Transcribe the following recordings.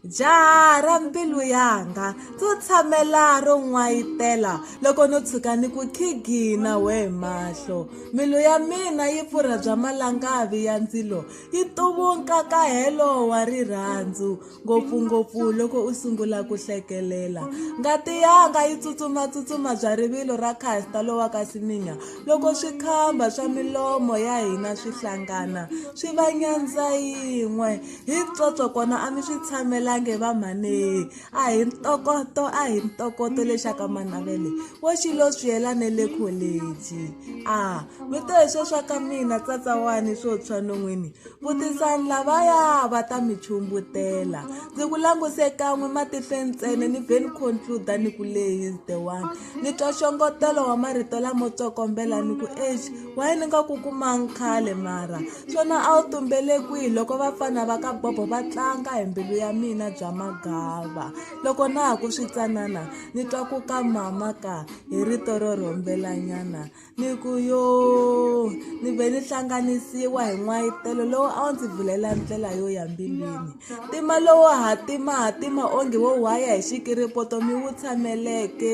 Jaha ra mbilu yanga, ndzi tshamela ro n'wayitela loko no tshuka ni ku khigina we mahlo. Mbilu ya mina yi pfurha bya malangavi ya ndzilo, yi tuvuka ka helo wa rirhandzu, ngopfungopfu loko u sungula ku hlekelela. Ngati yanga yi tsutsumatsutsuma bya rivilo ra Caster lowa ka Semenya loko swikhamba swa milomo ya hina swi hlangana swi va nyandza yin'we. Hi ntsotso kona a mi swi tshamelangi va mhani a hi ntokoto a hi ntokoto lexaka manavele wo xilo swi yela ne le college a mi to hi swo swa ka mina tsatsawani swo tshwa non'wini vutisani lavaya va ta mi chumbutela ndzi ku languse kan'we matihle ntsena ni ve ni concluda ni ku leyi is the one ni twa xongotelo wa marito lamo tsokombela ni ku exi Why ni nga ku kumanga khale mara swona a wu tumbele kwihi loko vafana va ka bobo va tlanga hi mbilu ya mina bya magava loko na ha ku switsanana ni twa ku ka mama ka hi rito ro rhombelanyana ni ku yo ni ve ni hlanganisiwa hi n'wayitelo lowu a wu ndzi vulela ndlela yo ya mbilwini Ntima lowo hatimahatima onge wo whaya hi xikiripoto mi wu tshameleke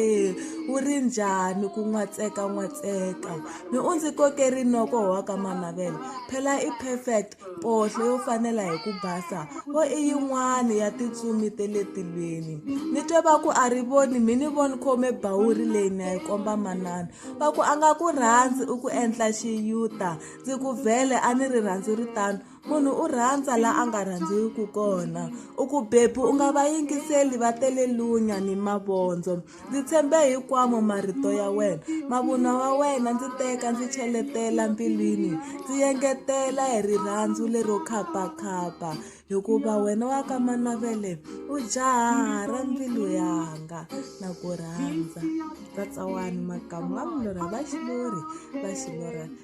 wu ri njhani ku n'watsekan'watseka mi u ndzi koke rinoko wa ka manavele phela i perfect mpohlo yo fanela hi ku basa wo i yin'wani ya tintsumi te le tilweni ni twe va ku a ri voni mi ni voni khome bawuri leyi na yi komba manana va ku a nga ku rhandzi u ku endla xiyuta ndzi ku vhele a ni ri rhandzu ri tano munhu u rhandza la a nga rhandziwiki kona u ku bebi u nga va yingiseli va tele lunya ni mavondzo ndzi tshembe hikwamo marito ya wena mavunwa wa wena ndzi teka ndzi cheletela mbilwini ndzi yengetela hi rirhandzu lero khapakhapa hikuva wena wa ka manavele u jaha ra mbilu yanga na ku rhandza vatsawani makamu va mulorha va xilori va xilorhana